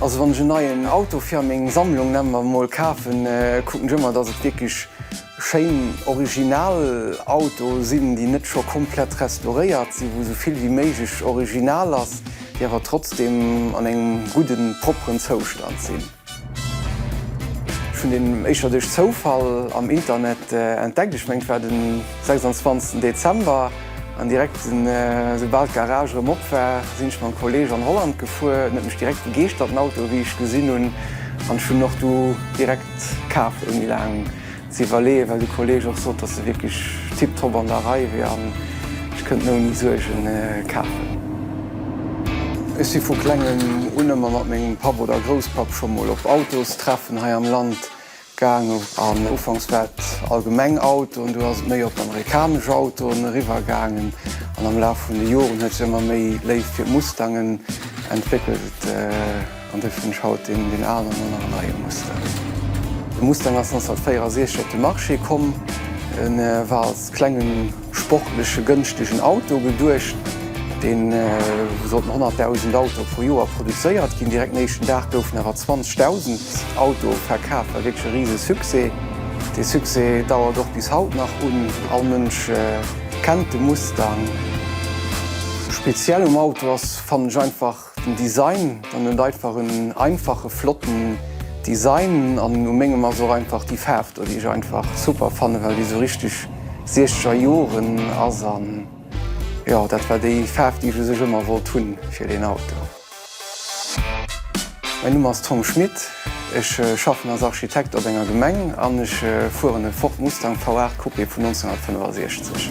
Also wann ech en neien Auto fir a meng Sammlung, nenne mer emol, kafen, kucken ech ëmmer, dass et wierklech schéin Originalautoe sinn, déi net scho komplett restauréiert sinn, wou esou vill wéi méiglech original ass, déi awer trotzdeem an engem gudden, propperen Zoustand sinn. Ech hunn deen éischter duerch Zoufall am Internet entdeckt. Ech mengen et war den 26 Dezember an direkt esoubal d'Garage erëm op war sinn ech mam Kolleg an Holland gefuer. En huet mech direkt begeeschtert den Auto wéi ech gesinn hunn an ech hunn och du direkt kaf ouni laang ze iwwerleeën, well de Kolleg och sot, dass se wierklech tiptop an der Rei wier an ech kënnt ouni Suergen kafen. Ech si vu Klengem un ëmmer mat mengem Papp oder Grousspapp scho mol op Autostreffen hei am Land gaangen an ufanks war et allgemeng Autoen, du ass et méi op amerikanesch Autoen eriwwergaangen an am Laf vun de Joren huet sech ëmmer méi Léift fir Mustangen entwéckelt. An dofir hunn ech haut deen alen an nach en neie Mustang. De Mustang ass 1964 op de Marché komm. E war als klenge sportleche gënschtegen Auto geduecht, dee sollt mat 100.000 Autoe pro Joer produzéiert ginn. Direkt den éischten Dag goufen awer 20.000 Autoe verkaf, war wierklech e rise Succès. Dee Succès dauert och bis haut nach un, all Mënsch kennt de Mustang. Speziell um Auto ass, fannen ech einfach, Den Design, en huet einfach en einfache flotten Design an u mengem ass och einfach déi Faarf do déi ech einfach super fannen, well déi esou richteg siechzeger Joren ass an jo dat war déi Faarf déi ech u sech ëmmer wollt hunn fir deen Auto. Mäin Numm ass Tom Schmit. Ech schaffen als Architekt op enger Gemeng an ech fueren e Ford Mustang V8 Coupé vun 1965.